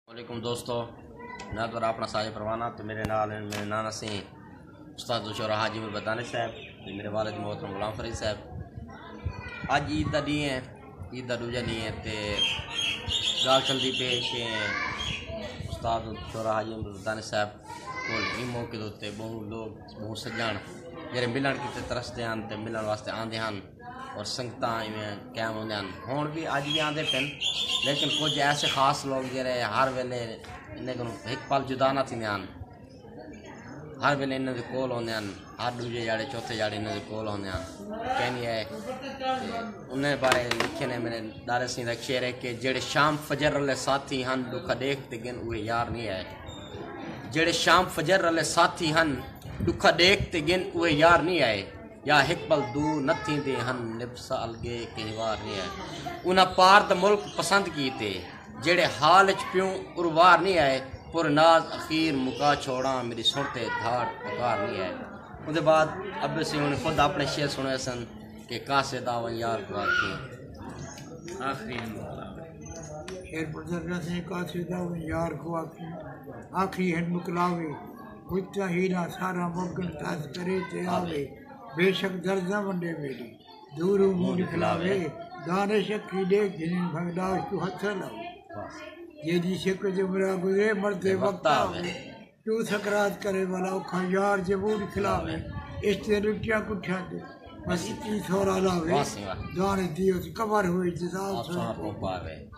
علیکم دوستو میں تو اپنا ساجد پروانہ تو میرے نال ہیں میرے نانا سی استاد دوشور حاجی میں بدانے صاحب تو میرے والد محترم غلام فرید صاحب آج عید دا دی ہیں عید دا دوجہ دی ہیں تے گال چل دی پیش ہیں استاد دوشور حاجی میں بدانے صاحب کول ہی موقع دوتے بہو لوگ بہو سجان میرے ملن کی تے ترستے ہیں تے ملن واسطے آن دے ہیں اور سنگتاں ایویں قائم ہوندے ہیں ہن بھی اج بھی آندے پن لیکن کچھ ایسے خاص لوگ جڑے ہر ویلے انہیں کو ایک پل جدا نہ تھیندے ہیں ہر ویلے انہیں دے کول ہوندے ہیں ہر دوجے جڑے چوتھے جڑے انہیں دے کول ہوندے ہیں کہنی ہے انہیں بارے لکھے نے میرے دارے سین ایک شعر ہے کہ جڑے شام فجر رلے ساتھی ہن دکھا دیکھ تے گن اوہ یار نہیں ہے جڑے شام فجر رلے ساتھی ہن دکھا دیکھ تے گن اوہ یار نہیں آئے یا ہک بل دو نہ تھیندے ہن نبسہ الگے کہیں وار نی آئے انہاں پار دا ملک پسند کیتے جیڑھے حال اچ پیوں اروار نی آئے پر ناز اخیر مکا چھوڑاں میڈی سن تے دھاڑ پکار نی آئے اوندے بعد ابے سی ہن خود اپنے شعر سنوے سن کہ کاسے دا ون یار گوار کے آخری ہن شعر پڑھدا پیا سی کاسے دا ون یار گوار کے آخری ہن مکلاوے کتا ہیلا سارا ممکن تھاس کرے تے آوے بیشک درد نہ ونڈے میڈی دوروں منہ نکلاوے دانش اکھی ڈے گھنن بھنگداش توں ہتھاں لاوے جیدی سکھ تے مرا گزرے مردے وقت آوے توں سکرات کرے والا اوکھا یار جے منہ نکلاوے عشق دے لٹیاں کٹھیاں تے بس اتی سورا لاوے دانش دی اس قبر ہوئی جزا اس سوئے پاوے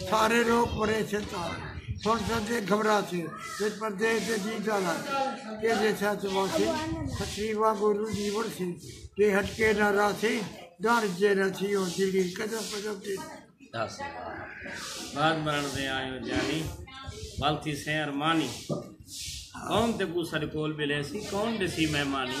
سارے لوک پریشن تھا سن سن دے گھبرا سے پھر پردیش دے جی جالا کے دے سا سے واسے خطیبہ گورو دیور سے کہ ہٹ کے نہ را سے ڈار جے نہ تھی ہو دلی قدم قدم دے بعد مرن دے آئے ہو جانی والتی سے ارمانی کون تے کو سر کول بلے سی کون دے سی مہمانی